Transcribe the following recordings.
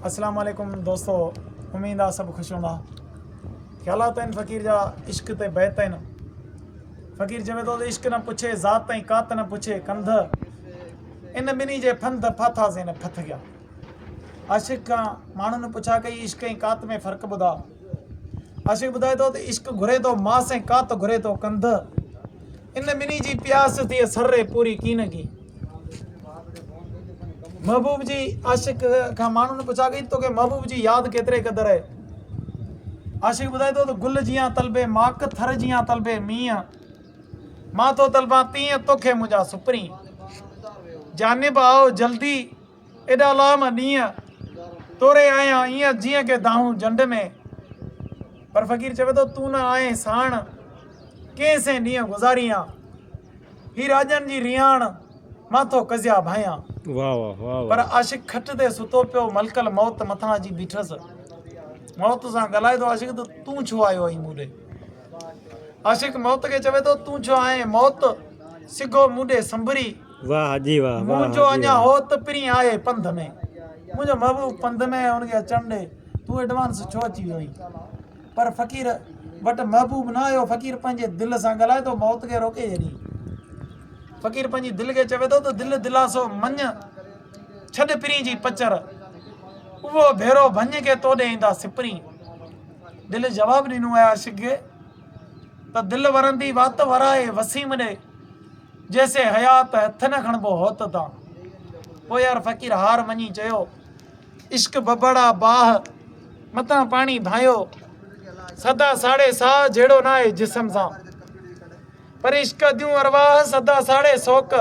السلام عليڪم دوستو اميد آ سڀ خوش هوندا خيالات آهن فقير جا عشق تي بيت آهن فقير چوي ٿو ته عشق نه پڇي ذات تائين ڪات نه پڇي ڪنڌ ان ٻنهي جي ڦنڌ ڦاٿاسين ڦٿ گيا عاشق کان ماڻهن پڇا ڪئي عشق ۽ ڪات ۾ فرق ٻڌا عاشق ٻڌائي ٿو ته عشق گهري ٿو ماس ۽ ڪات گهري ٿو ڪنڌ ان ٻنهي جي پياس ٿي سر ري پوري ڪين گي محبوب جي عاشق کان ماڻهو نه پڇا گئي تو کي محبوب جي ياد ڪيتري قدر آهي عاشق ٻڌائي ٿو ته گل جيان طلبي ماڪ ٿر جيان طلبي مينهن مان ٿو طلبان تيئن توکي منهنجا سپرين جانب آؤ جلدي ايڏا لام ڏينهن توري آهيان ايئن جيئن ڪي دانهون جنڊ ۾. پر فقير چوي ٿو تون نه آهين ساڻ ڪئين سين ڏينهن گذاريان. هي راڄن جي رياڻ مان ٿو ڪزيا ڀانئيان. پر عاشق کٽ تي ستو پيو ملڪل موت مٿان اچي بيٺس. موت سان ڳالهائي ٿو عاشق ته تون ڇو آيو آهين مون ڏي. عاشق موت کي چوي ٿو تون ڇو آهين موت سگهو مون ڏي سنبري. واھ حاجي واھ. منهنجو اڃا هوت پرين آهي پنڌ ۾. منهنجو محبوب پنڌ ۾ آهي ان کي اچڻ ڏي تون ايڊوانس ڇو اچي ويو آهين پر فقير وٽ محبوب نه آيو فقير پنهنجي دل سان ڳالهائي ٿو موت کي روڪي ڇڏين فقير پنهنجي دل کي چوي ٿو ته دل دلاسو مڃ ڇڏ پرين جي پچر اهو ڀيرو ڀڃ کي تو ڏي ايندا سپرين دل جواب ڏنو آهي عاشق کي ته دل ورندي وات ورائي وسيم ڏي جيسين حيات هٿ نه کڻبو هوت تان. پويار فقير هار مڃي چيو. عشق ٻٻڙا باهه متان پاڻي ڀانيو. سدا ساڙي ساهه جهيڙو ناهي جسم سان. پر عشق ديون ارواح سدا ساڙي سوڪ.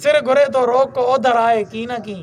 سر گهري ٿو روڪ اوڌر آهي ڪين ڪين.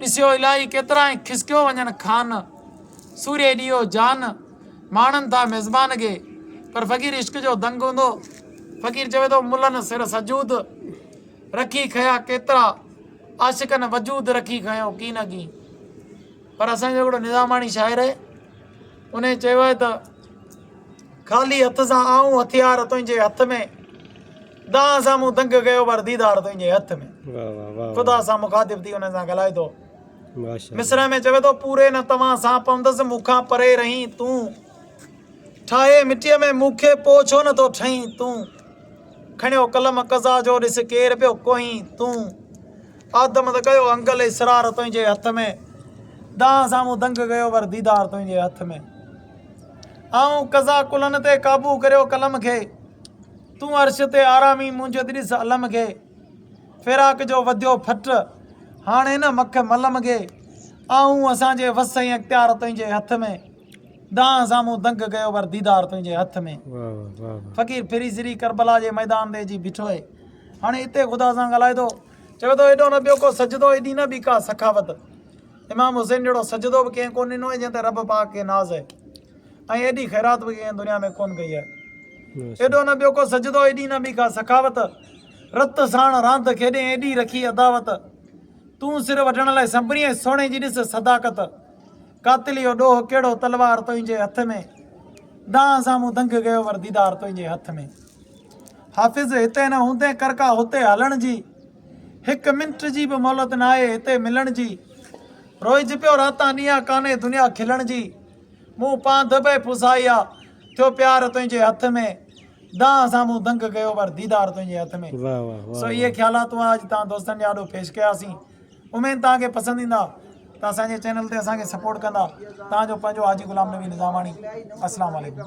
ڏسيو الاهي ڪيترائين کسڪيو وڃن خان سوري ڏيئو جان ماڻن ٿا ميزبان گي پر فقير عشق جو دنگ هوندو فقير چوي ٿو ملن سر سجود رکي کيا ڪيترا عاشقن وجود رکي کيو ڪي نه ڪي پر اسان جو هڪڙو نظاماڻي شاعر آهي ان چيو آهي ته خالي هٿ سان آئون هٿيار تنهنجي هٿ ۾ دانهن سان مون دنگ ڪيو پر ديدار تنهنجي هٿ ۾. خدا سان مخاطب ٿي انهن سان ڳالهائي ٿو. مصرع ۾ چوي ٿو. پوري نه توهان سان پوندس مون کان پري رهين تون. ٺاهي مٽيء ۾ مون کي پوء ڇو نه ٿو ٺهين تون. کڻيو قلم قضا جو ڏس ڪير پيو ڪوهين تون. آدم ته ڪيو انگل اسرار تنهنجي هٿ ۾. دانهن سان مون دنگ ڪيو پر ديدار تنهنجي هٿ ۾. آئون قضا ڪلن تي قابو ڪريو قلم کي. تون عرش تي آرامي منهنجي ڏس الم کي فراق جو وڌيو ڦٽ هاڻي نه مک ملم کي آئون اسان جي وس ۽ اختيار تنهنجي هٿ ۾ دانهن سامهون دنگ ڪيو پر ديدار تنهنجي هٿ ۾ فقير ڦري سري ڪربلا جي ميدان تي اچي بيٺو آهي هاڻي اتي خدا سان ڳالهائي ٿو چوي ٿو ايڏو نه ٻيو ڪو سجدو ايڏي نه ٻي ڪا سخاوت امام حسين جهڙو سجدو به ڪنهن ڪو ڏنو آهي جنهن تي رب پاڪ کي ناز آهي ۽ ايڏي خيرات به ڪنهن دنيا ۾ ڪونه ڪئي آهي. ايڏو نه ٻيو ڪو سجدو، ايڏي نه ٻي ڪا سخاوت، رت ساڻ راند کيڏين ايڏي رکي عداوت، تون سر وڍڻ لاء سنبرين ۽ سهڻي جي ڏس صداقت، قاتل اهو ڏوهه ڪهڙو تلوار تنهنجي هٿ ۾، دانهن سان مون دنگ ڪيو ور ديدار تنهنجي هٿ ۾. حافظ هتي نه هوندين ڪر ڪا هتي هلڻ جي، هڪ منٽ جي به مهلت ناهي هتي ملڻ جي، روئج پيو راتان ڏينهان ڪانهي دنيا کلڻ جي. مون پانڌ به پوزائي آ، ٿيو پيار تنهنجي هٿ ۾، دانهن سان مون دنگ ڪيو پر ديدار تنهنجي هٿ ۾. واھ واھ واھ سو اهي واھ. خيالات هئا اڄ توهان دوستن جي آڏو پيش ڪيا سين اميد توهان کي پسند ايندا ته اسان جي چينل تي اسان کي سپورٽ ڪندا توهان جو پنهنجو حاجي غلام نبي نظاماڻي اسلام عليڪم.